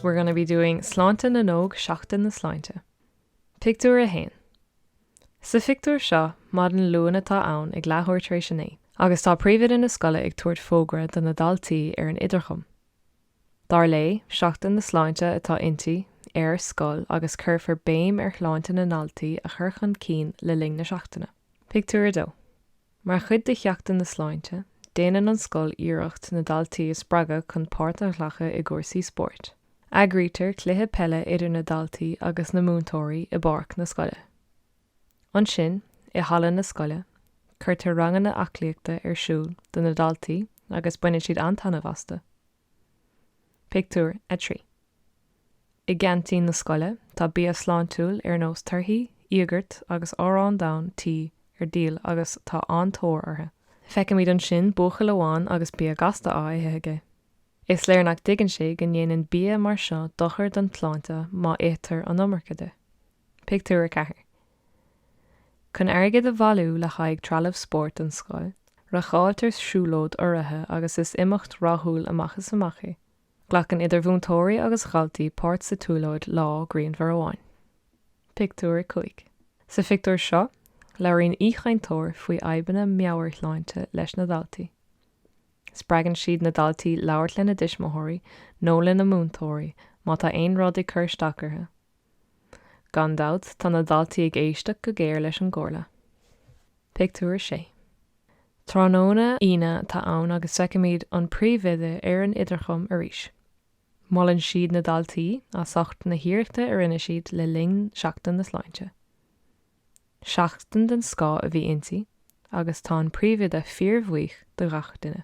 We're gonna be doing Sláinte na nÓg Seachtain na Sláinte. Pictiúr 1 Sa phictiúr seo, maidin Luain atá ann ag leathuair tar éis a naoi agus tá príomhoide na scoile ag tabhairt fógra do na daltaí ar an idirchum. dar léi, Seachtain na Sláinte atá inti, ar scoil agus cuirfear béim ar shláinte na ndaltaí a chur chun cinn le linn na seachtaine. Pictiúr 2 Mar chuid de Sheachtain na Sláinte, déanann an scoil iarracht na daltaí a spreagadh chun páirt a ghlacadh i gcúrsaí spóirt. Eagraítear cluiche peile idir na daltaí agus na múinteoirí i bpáirc na scoile. Ansin, i halla na scoile, cuirtear ranganna aclaíochta ar siúl do na daltaí agus baineann siad an-taitneamh astu. Pictiúr 3 I gceaintín na scoile, tá bia sláintiúil ar nós torthaí, íogart agus arán donn tí ar díol agus tá an-tóir orthu. Feicimid ansin buachaill amháin agus bia gasta á ithe aige. Is léir nach dtuigeann sé go ndéanann bia mar seo dochar don tsláinte má ithtear an iomarca de. Pictiúr 4 Chun airgead a bhailiú le haghaidh trealamh spóirt don scoil, reáchtáiltear siúlóid urraithe agus is imeacht rathúil amach is amach í. Glacann idir mhúinteoirí agus dhaltaí páirt sa tsiúlóid lá grianmhar amháin. Pictiúr 5 Sa phictiúr seo, labhraíonn aoichainteoir faoi fhadhbanna meabhairshláinte leis na daltaí. Spreagann siad na daltaí labhairt lena dtuismitheoirí nó lena múinteoirí má tá aon rud ag cur isteach orthu. Gan dabht, tá na daltaí ag éisteacht go géar leis an gcomhairle. Pictiúr 6 Tráthnóna Aoine atá ann agus feicimid an príomhoide ar an idirchum arís. Molann siad na daltaí as ucht na hiarrachta a rinne siad le linn Seachtain na Sláinte. Seachtain den scoth a bhí inti agus tá an príomhoide fíorbhuíoch de gach duine.